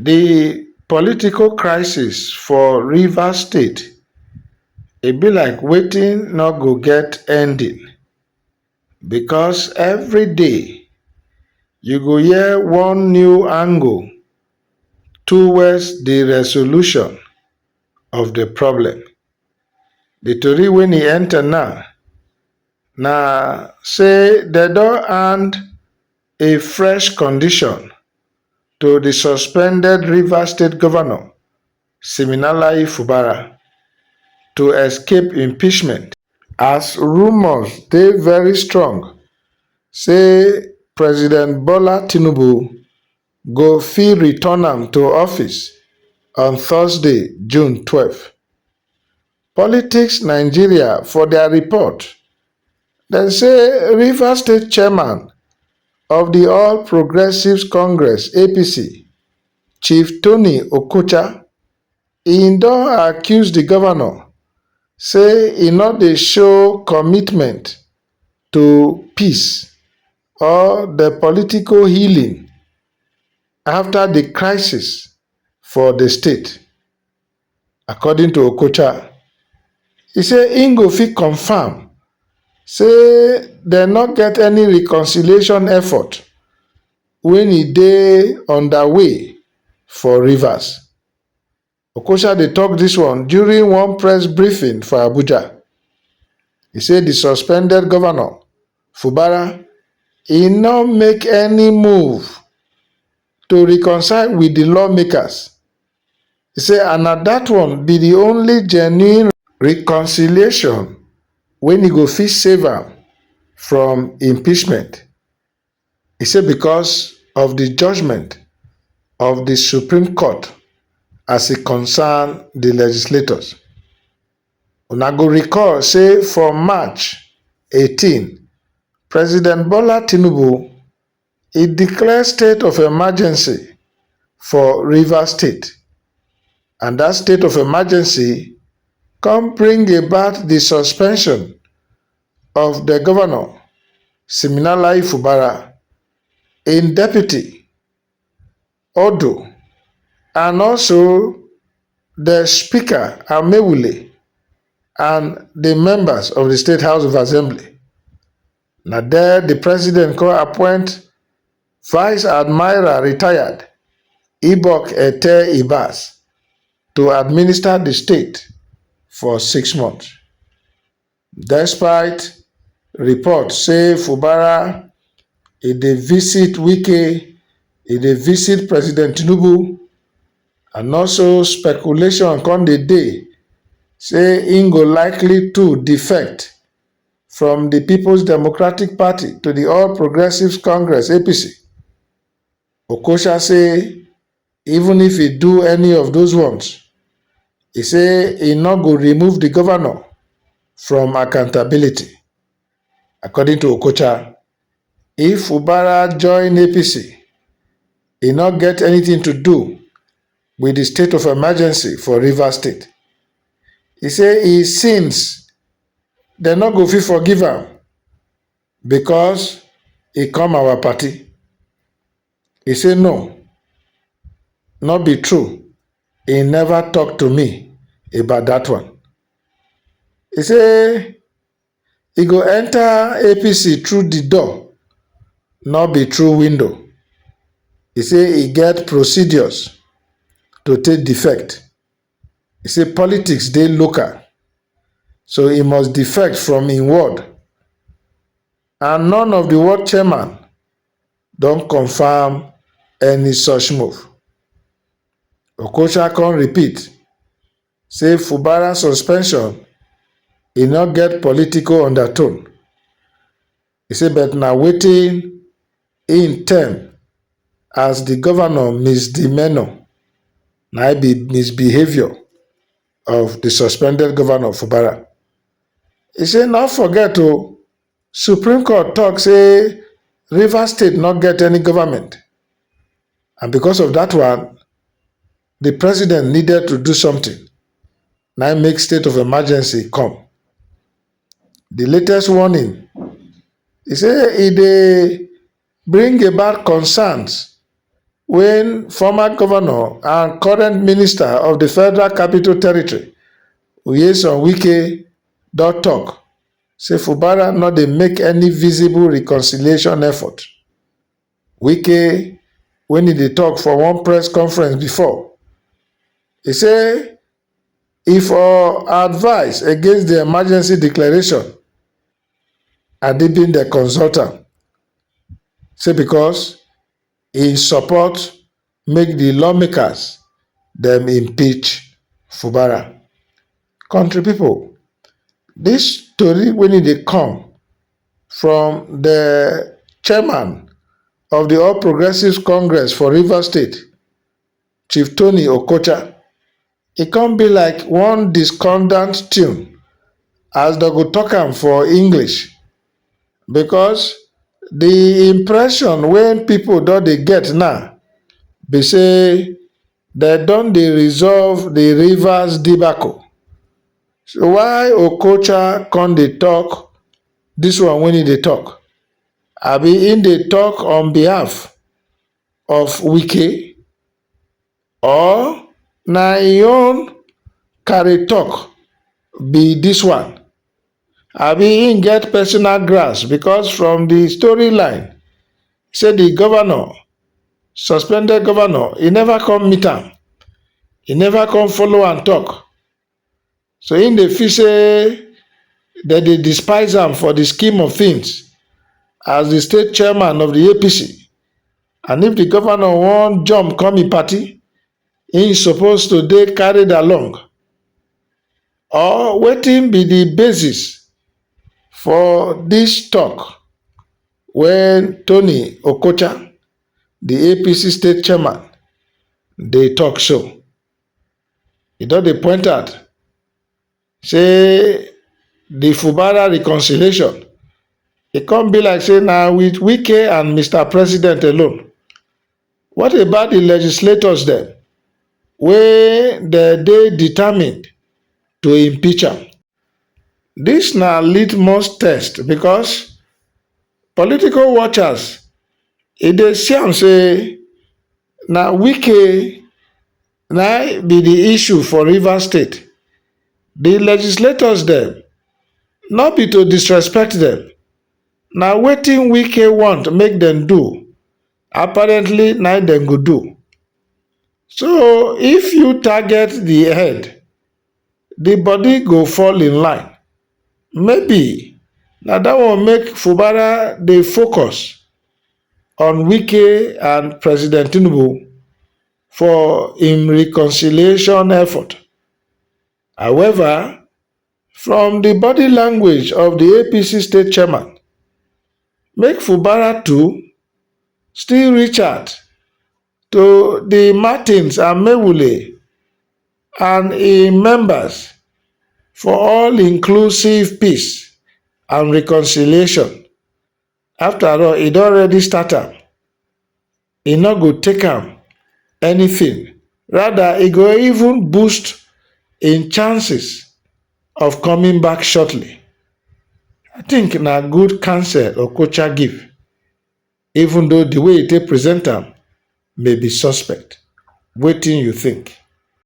Di political crisis for Rivers state e be like wetin no go get ending because everyday you go hear one new angle towards di resolution of di problem. Di tori wey e enter now na sey dem don hand a fresh condition to di suspended rivers state govnor siminalayi fubara to escape impeachment as rumours dey very strong say president bola tinubu go fit return am to office on thursday june twelve. Politics Nigeria for dia report, dem say Rivers State Chairman of di All Progressives Congress, APC, Chief Tony Okocha, e don accuse di govnor say e no dey show commitment to peace or di political healing afta di crisis for di state. According to Okocha, e say im go fit confam say dem no get any reconciliation effort wen e dey underway for Rivers. Okocha dey tok dis one during one press briefing for Abuja. E say di suspended govnor, Fubara, e no make any move to reconcile wit di lawmakers. e say and na dat one be di only genuine reconciliation wey e go fit save am from impeachment, e say because of di judgement of di supreme court as e concern di legislators. Una go recall say for March eighteen, President Bola Tinubu E declare state of emergency for Rivers State and dat state of emergency come bring about di suspension of di govnor, Siminalayi Fubara, im deputy, Odo and also di speaker, Amaewhule and di members of di state house of assembly. Na there di president come appoint Vice Admiral retired Ibok Ete Ibas to administer di state for six months. Despite reports say Fubara e dey visit Wike, e dey visit President Tinubu and also speculation come dey dey say im go likely too defect from di peoples democratic party to di all progressives congress apc okocha say even if e do any of those ones e say e no go remove di govnor from accountability according to okocha if fubara join apc e no get anything to do wit di state of emergency for rivers state e say e since dem no go fit forgive am because he come our party. He say no, no be true. He never talk to me about that one. He say he go enter APC through the door, no be through window. He say he get procedures to take defect. E say politics dey local so e must defect from im ward and none of di ward chairman don confam any such move. Okocha come repeat say Fubara suspension e no get political undertone. E say but na wetin im term as di govnor misdemeanour na im be misbehaviour of di suspended govnor Fubara. E say no forget o, supreme court tok say Rivers state no get any government and becos of dat one, di president needed to do something na im make state of emergency come. di latest warning e say e dey bring about concerns wen former govnor and current minister of di federal capital territory nyesom wike don tok say fubara no dey make any visible reconciliation effort wike wen e dey tok for one press conference bifor e say E for advise against di emergency declaration and di bin dey consult am say because e support make di lawmakers dem impeach Fubara. Kontri pipo dis tori wen e dey come from di chairman of di all progressives congress for Rivers state, Chief Tony Okocha, e come be like one discordant tune as dem go talk am for English because the impression wey people don dey get now be say dem don dey resolve the Rivers debacle. So why Okocha come dey talk this one wey e dey talk? Abi im dey talk on behalf of wike or na im own carry talk be this one abi him get personal grasp because from the story line say the governor suspended governor e never come meet am e never come follow am talk So im dey feel say dem dey despise am for di scheme of things as di state chairman of di APC and if di governor wan jump come im party, im suppose to dey carried along or wetin be di basis for dis talk wey Tony Okocha, di APC state chairman dey talk so. e don dey point out sey de Fubara reconciliation e come be like sey na wit Wike and Mister President alone. What about de legislators dem wey dem dey determined to impeach am? Dis na litmus test because political watchers e dey see am sey na Wike Na im be di issue for Rivers State, di legislators dem no be to disrespect dem, na wetin Wike want make dem do apparently na im dem go do. So if you target di head, di body go fall in line, maybe na dat one make Fubara dey focus on Wike and President Tinubu for im reconciliation effort however from di body language of di apc state chairman make fubara too still reach out to di martins amaewhule and im members for all inclusive peace and reconciliation After all, e don already start am, e no go take am anything, rather e go even boost im chances of coming back shortly. I think na good counsel Okocha give, even though the way e take present am may be suspect. Wetin you think?